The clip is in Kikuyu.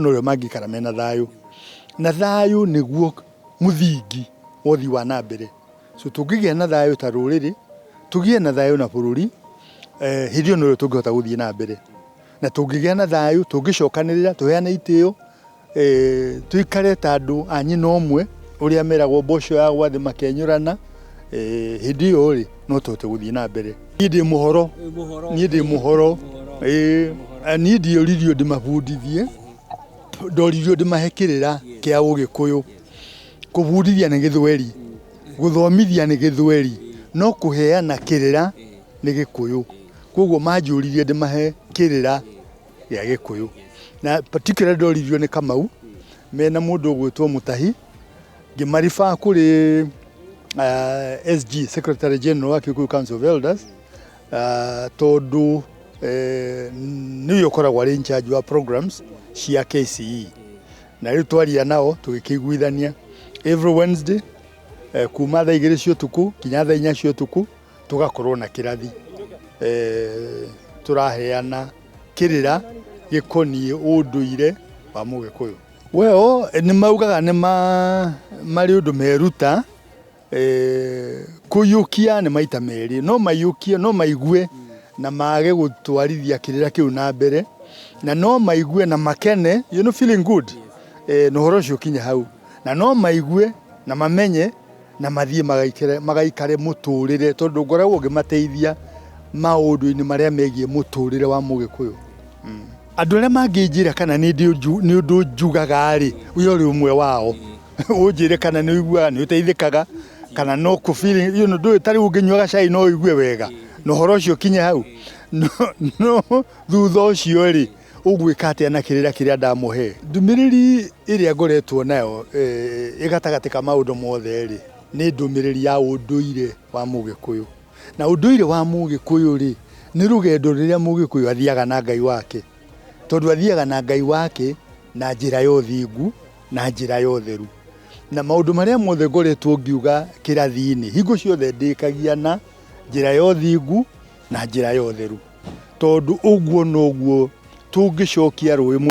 na ũrĩa mangĩikara mena thayũ na thayũ nĩguo mũthingi wa ũthii wa na mbere so tũngĩgĩa na thayũ ta rũrĩrĩ tũgĩe na thayũ na bũrũri eh, hĩndĩ ĩyo nĩrĩo tũngĩhota gũthiĩ na mbere na tũngĩgĩa na thayũ tũngĩcokanĩrĩra tũheane itĩo eh, tũikare ta andũ a nyina ũmwe ũrĩa meragwo mboco ya gwathĩ makenyũrana eh, hĩndĩ ĩyo rĩ no tũhote gũthiĩ na mbere niĩ ndĩ mũhoro niĩ ndĩ mũhoro ĩĩ eh, niĩ ndioririo ndĩmabundithie ndoririo ndĩmahe kĩrĩra kĩa ũgĩkũyũ kũbundithia nĩ gĩthweri gũthomithia nĩ gĩthweri no kũheana kĩrĩra nĩ gĩkũyũ koguo manjũririe ndĩmahe kĩrĩra gĩa gĩkũyũ na particularly ndoririo nĩ kamau mena mũndũ ũgwĩtwo mũtahi Ngĩmaribaa kũrĩ uh, SG Secretary General wa Kikuyu Council of Elders uh, tondũ uh, nĩwe ũkoragwo arĩ in charge wa programs cia KCE na rĩu twaria nao tũgĩkĩiguithania every Wednesday uh, kuma thaa igĩrĩ cia ũtukũ nginya thaa inya cia ũtukũ tũgakorwo na kĩrathi uh, tũraheana kĩrĩra gĩkoniĩ ũndũire wa mũgĩkũyũ Well, nĩ maugaga nĩ marĩ ũndũ meruta eh, kũiyũkia nĩ maita merĩ no maiyũkie no maigue na mage gũtwarithia kĩrĩra kĩu na mbere na no maigue na makene you know, feeling good eh, na ũhoro ũcio ũkinye hau na no maigue na mamenye na mathiĩ magaikare, magaikare mũtũrĩre tondũ ngoragwo ngĩmateithia maũndũ-inĩ marĩa megiĩ mũtũrĩre wa mũgĩkũyũ mm. andũ arĩa mangĩnjĩra kana nĩ ũndũ njugaga-rĩ ũyũ ũrĩ ũmwe wao ũnjĩre kana nĩ ũiguaga nĩ ũteithĩkaga kana no kũ ndũĩ ta rĩu ũngĩnyua gacai no ũigue wega na ũhoro ũcio ũkinye hau no thutha ũcio-rĩ Ũgwĩka atĩa na kĩrĩra kĩrĩa ndamũhe? Ndũmĩrĩri ĩrĩa ngoretwo nayo eh, ĩgatagatĩ ka maũndũ mothe-rĩ, nĩ ndũmĩrĩri ya ũndũire wa Mũgĩkũyũ. Na ũndũire wa Mũgĩkũyũ-rĩ, nĩ rũgendo rũrĩa Mũgĩkũyũ athiaga na Ngai wake, tondũ athiaga na Ngai wake na njĩra ya ũthingu, na njĩra ya ũtheru. Na maũndũ marĩa mothe ngoretwo ngiuga kĩrathi-inĩ, hingo ciothe ndĩkagia na njĩra ya ũthingu, na njĩra ya ũtheru, tondũ ũguo noguo tũngĩcokia rũĩ.